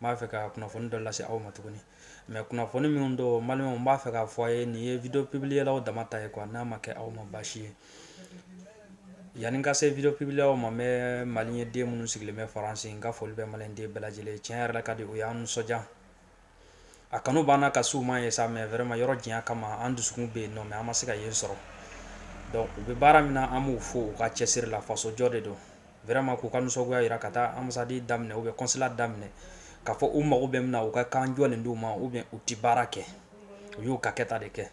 n b'a fɛ ka kunnafoni dɔ lase aw ma tuguni mais kunnafoni minnu don n balima n b'a fɛ k'a fɔ a ye nin ye video publierlaw dama ta ye quoi n'a ma kɛ aw ma baasi ye yanni ka se video publierlaw ma mais malien den minnu sigilen bɛ faransi n ka foli bɛ maliden bɛɛ lajɛlen tiɲɛ yɛrɛ ka di u y'an nisɔndiya a kanu banna ka su ma ye sa mais vraiment yɔrɔ janya kama an dusukun bɛ yen nɔ mais an ma se ka yen sɔrɔ u bɛ baara min na an b'u fo u ka cɛsiri la fasojɔ de don Vraiment k'u ka nisɔngoya yira ka taa ambassade daminɛ ou bien consulat daminɛ ka fɔ u mago bɛ min na u ka kan jɔlen d'u ma ou bien u tɛ baara kɛ u y'u ka kɛta de kɛ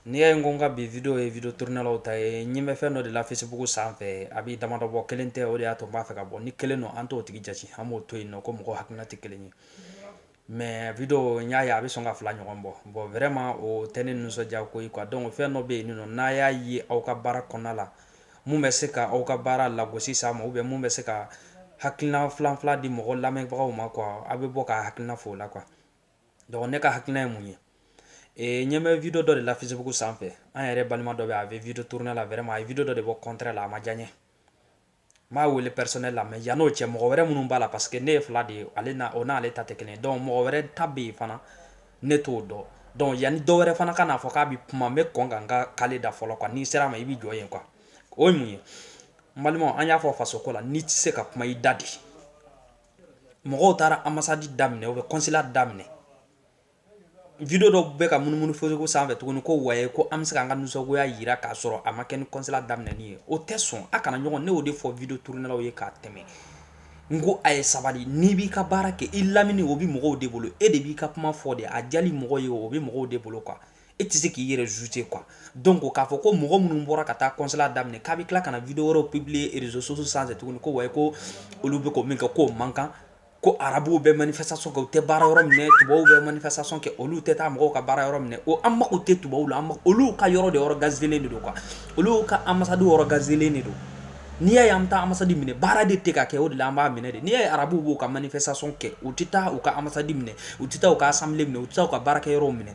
n'i y'a ye n ko n ka bi video ye video tournerlaw ta ye n ɲɛ bɛ fɛn dɔ de la Facebook sanfɛ a bɛ damadɔ bɔ kelen tɛ o de y'a to n b'a fɛ ka bɔ ni kelen don an t'o tigi jate an b'o to yen nɔ ko mɔgɔ hakilina tɛ kelen ye Mais video n y'a ye a bɛ sɔn ka fila ɲɔgɔn bɔ bon vraiment o tɛ ne nisɔndiya ko ye quoi donc fɛn dɔ bɛ yen nɔ n'a y'a ye aw ka baara kɔnɔna la mun bɛ se ka aw ka baara lagosi s'a ma ou bien mun bɛ se ka hakilina filanfila di mɔgɔ lamɛnbagaw ma quoi aw bɛ bɔ ka hakilina fɔ o la quoi donc ne ka hakilina ye mun ye ee n ɲɛ bɛ video dɔ de la Facebook sanfɛ an yɛrɛ balima dɔ bɛ a bɛ video tourner la vraiment a ye video dɔ de bɔ contraire la a ma diya n ye n b'a wele personnel la mais yann'o cɛ mɔgɔ wɛrɛ minnu b'a la parce que ne ye fila de ye ale o n'ale ta tɛ kelen donc mɔgɔ wɛrɛ ta bɛ yen fana ne t'o dɔn donc yanni dɔw wɛrɛ fana ka n'a fɔ k'a bɛ kuma n bɛ kɔn ka n ka kale da fɔlɔ quoi n'i sera a ma i bɛ jɔ yen quoi o ye mun ye n balima an y'a fɔ faso ko la n'i tɛ se ka kuma i dade mɔgɔw taara ambassade daminɛ ou bien consulat daminɛ video dɔ bɛ ka munumunu Facebook sanfɛ tuguni ko ouais ko an bɛ se an ka nisɔngoya yira k'a sɔrɔ a ma kɛ ni consulat daminɛli ye o tɛ sɔn a kana ɲɔgɔn ne y'o de fɔ video tournerlaw ye k'a tɛmɛ n ko a ye sabali n'i b'i ka baara kɛ i lamɛnni o bɛ mɔgɔw de bolo e de b'i ka kuma fɔ de a diyali mɔgɔ ye o bɛ mɔgɔw de bolo quoi e tɛ se k'i yɛrɛ juger quoi donc k'a fɔ ko mɔgɔ minnu bɔra ka taa consulat daminɛ k'a bɛ tila ka na video wɛrɛ publier réseaux sociaux sanfɛ tuguni ko ouais ko olu bɛ ko min kɛ k'o man kan ko arabuw bɛ manifestation kɛ u tɛ baara yɔrɔ minɛ tubabuw bɛ manifestation kɛ olu tɛ taa mɔgɔw ka baara yɔrɔ minɛ o an mako tɛ tubabuw la olu ka yɔrɔ de organiserlen de don quoi olu ka ambassade organiserlen de don n'i y'a ye an bɛ taa ambassade minɛ baara de tɛ ka kɛ o de la an b'a minɛ de n'i y'a ye arabuw b'u ka manifestation kɛ u tɛ taa u ka ambassade minɛ u tɛ taa u ka assemblée minɛ u tɛ taa u ka baarakɛyɔrɔw minɛ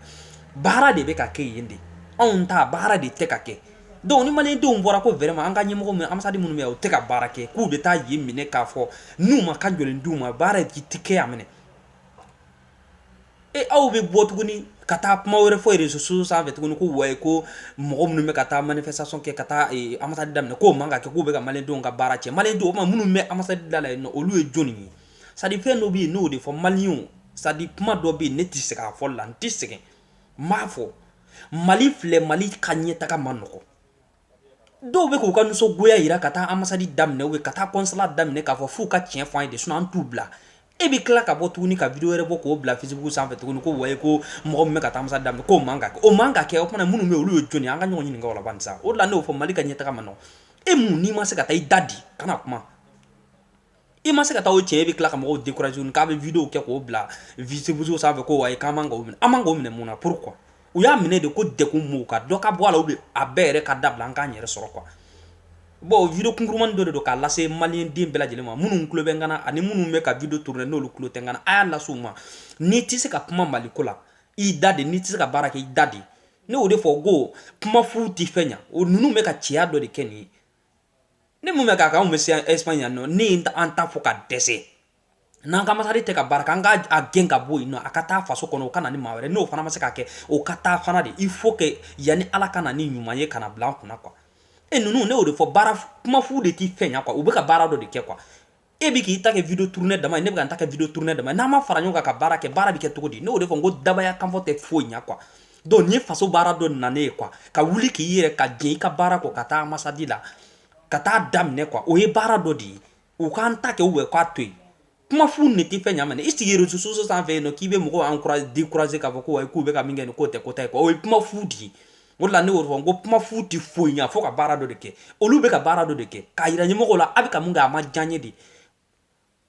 baara de bɛ ka kɛ yen de anw ta baara de tɛ ka kɛ Donc ni malidenw bɔra ko vraiment an ka ɲɛmɔgɔ min ambassade minnu bɛ u tɛ ka baara kɛ k'u bɛ taa yen minɛ k'a fɔ n'u ma kan jɔlen d'u ma baara si tɛ kɛ yan minɛ e aw bɛ bɔ tuguni ka taa kuma wɛrɛ fɔ réseaux sociaux sanfɛ tuguni ko ouais ko mɔgɔ minnu bɛ ka taa manifestation kɛ ka taa ambassade daminɛ k'o man kan kɛ k'u bɛ ka malidenw ka baara cɛn malidenw o tuma minnu bɛ ambassade da la olu ye jɔnni ye c'est-à-dire fɛn dɔ bɛ yen n'o de fɔ malien c'est-à-dire kuma dɔ bɛ yen ne tɛ sɛgɛn a fɔ la n tɛ sɛgɛn N b'a fɔ mali filɛ mali ka ɲɛ taga ma nɔgɔ dɔw bɛ k'u ka nisɔngoya jira ka taa ambassade daminɛ u ye ka taa consulat daminɛ k'a fɔ f'u ka cɛn fɔ an ye de sinon an t'u bila e bɛ tila ka bɔ tuguni ka video wɛrɛ bɔ k'o bila facebook sanfɛ tuguni ko wayi ko mɔgɔ min bɛ ka taa ambassade daminɛ k'o man kan o man ka kɛ o fana minnu bɛ yen olu ye jɔn ye an ka ɲɔgɔn ɲininka o la bani sa o de la ne y'o fɔ mali ka ɲɛ taga ma nɔgɔ e mun n'i ma se ka taa i da de i kana kuma i ma se ka taa o cɛn e bɛ tila ka mɔgɔw décourager k'a bɛ video kɛ k'o bila facebook sanfɛ ko wayi k'an man k'o minɛ an man k'o minɛ mun na pourquoi u y'a minɛ de ko dek maaw ka dɔ ka bɔ a la ou bien a bɛɛ yɛrɛ ka dabila an k'an yɛrɛ sɔrɔ quoi bon video kunkurumani dɔ de don k'a lase mali den bɛɛ lajɛlen ma minnu tulo bɛ n kana ani minnu bɛ ka video tourner n'olu tulo tɛ n kana a y'a lase u ma n'i tɛ se ka kuma mali ko la i da de n'i tɛ se ka baara kɛ i da de ne y'o de fɔ ko kuma fu tɛ fɛn ɲa o ninnu bɛ ka cɛya dɔ de kɛ nin ye ne mun bɛ k'a kan anw bɛ se Espagne yan nɔ ne ye an ta fɔ ka dɛsɛ n'an ka ambassade tɛ ka baara kɛ an k'a gɛn ka bɔ yen nɔ a ka taa faso kɔnɔ o ka na ni maa wɛrɛ n'o fana ma se k'a kɛ o ka taa fana de il faut que yanni ala ka na ni ɲuman ye ka na bila an kunna quoi e ninnu ne y'o de fɔ baara kuma fu de tɛ fɛn ɲa quoi u bɛ ka baara dɔ de kɛ quoi e bɛ k'i ta kɛ video tourner dama ye ne bɛ ka n ta kɛ video tourner dama ye n'an ma fara ɲɔgɔn kan ka baara kɛ baara bɛ kɛ cogo di ne y'o de fɔ n ko dabaya kanfɔ tɛ foyi ɲa quoi donc nin ye faso baara dɔ nalen ye quoi ka wuli k'i yɛrɛ ka jɛn i ka baara kɔ ka taa ambassade la ka taa daminɛ quoi o ye baara dɔ de ye u k'an ta kɛ u bɛ k'a to yen kuma fu ne tɛ fɛn ɲa mɛnɛ i sigi réseaux sociaux sanfɛ yen nɔ k'i bɛ mɔgɔw encourager décourager k'a fɔ ko wayi k'u bɛ ka min kɛ nin k'o tɛ ko ta ye quoi o ye kuma fu de ye o de la ne y'o fɔ n ko kuma fu tɛ foyi ɲa fo ka baara dɔ de kɛ olu bɛ ka baara dɔ de kɛ k'a yira ɲɛmɔgɔw la a bɛ ka mun kɛ a ma diya n ye de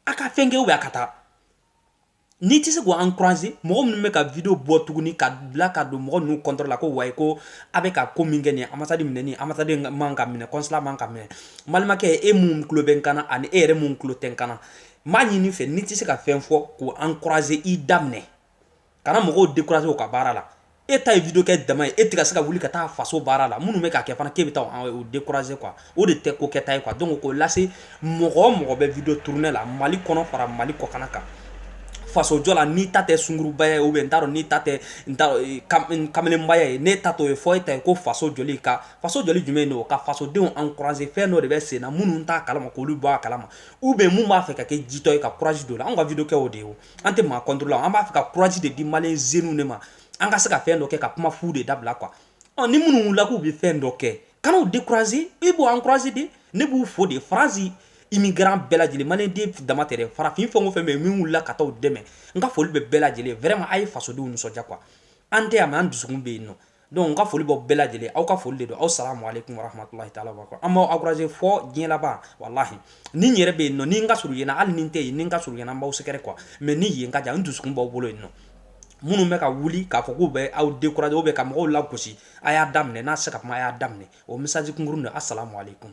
a ka fɛn kɛ ou bien a ka taa n'i tɛ se k'o encourager mɔgɔ minnu bɛ ka video bɔ tuguni ka bila ka don mɔgɔ ninnu contre la ko wayi ko a bɛ ka ko min kɛ nin ambassade minɛ nin ambassade man ka minɛ consulat man ka minɛ balimakɛ e mun tulo bɛ n kana ani e yɛrɛ mun tulo tɛ n kana n b'a ɲini i fɛ n'i tɛ se ka fɛn fɔ k'o encourager i daminɛ kana mɔgɔw décourager u ka baara la e ta ye video kɛ dama ye e tɛ ka se ka wuli ka taa faso baara la minnu bɛ k'a kɛ fana k'e bɛ taa o décourager quoi o de tɛ ko kɛta ye quoi donc k'o lase mɔgɔ o mɔgɔ bɛ video tourner la mali kɔnɔ fara mali kɔkan kan fasojɔ la n'i ta tɛ sungurubaya ye ou bien n t'a dɔn n'i ta tɛ e, kamalenbaya ye ne ta t'o ye fo e ta ye ko faso jɔli ka faso jɔli jumɛn don ka fasodenw encourager fɛn dɔ de bɛ sen na minnu t'a kalama k'olu bɔ a kalama ou bien mun b'a fɛ ka kɛ jitɔ ye ka courage don la anw ka video kɛ o de ye an tɛ maa contre la an b'a fɛ ka courage de di malien jeunes de ma an ka se ka fɛn dɔ kɛ ka kuma fu de dabila quoi ni minnu wulila k'u bɛ fɛn dɔ kɛ kan'u décourager i b'u encourager de ne b'u fo de France immigrant bɛɛ lajɛlen malien den dama tɛ dɛ farafin fɛn o fɛn bɛ yen min wulila ka taa u dɛmɛ n ka foli bɛ bɛɛ lajɛlen vraiment a ye fasodenw nisɔndiya quoi an tɛ yan mais an dusukun bɛ yen nɔ donc n ka foli b'aw bɛɛ lajɛlen aw ka foli de don aw salamu aleykum wa rahmatulahi taala wa barakatuh an b'aw encourager fɔ diɲɛ laban walahi ni n yɛrɛ bɛ yen nɔ ni n ka surun yen na hali ni n tɛ yen ni n ka surun yen na n b'aw sɛgɛrɛ quoi mais ni yen ka jan n dusukun b'aw bolo yen nɔ minnu bɛ ka wuli k'a fɔ k'u bɛ aw décourager ou bien ka mɔgɔw lagosi a y'a daminɛ n'a se ka kuma a y'a daminɛ o message kunkurun don assalamu aleykum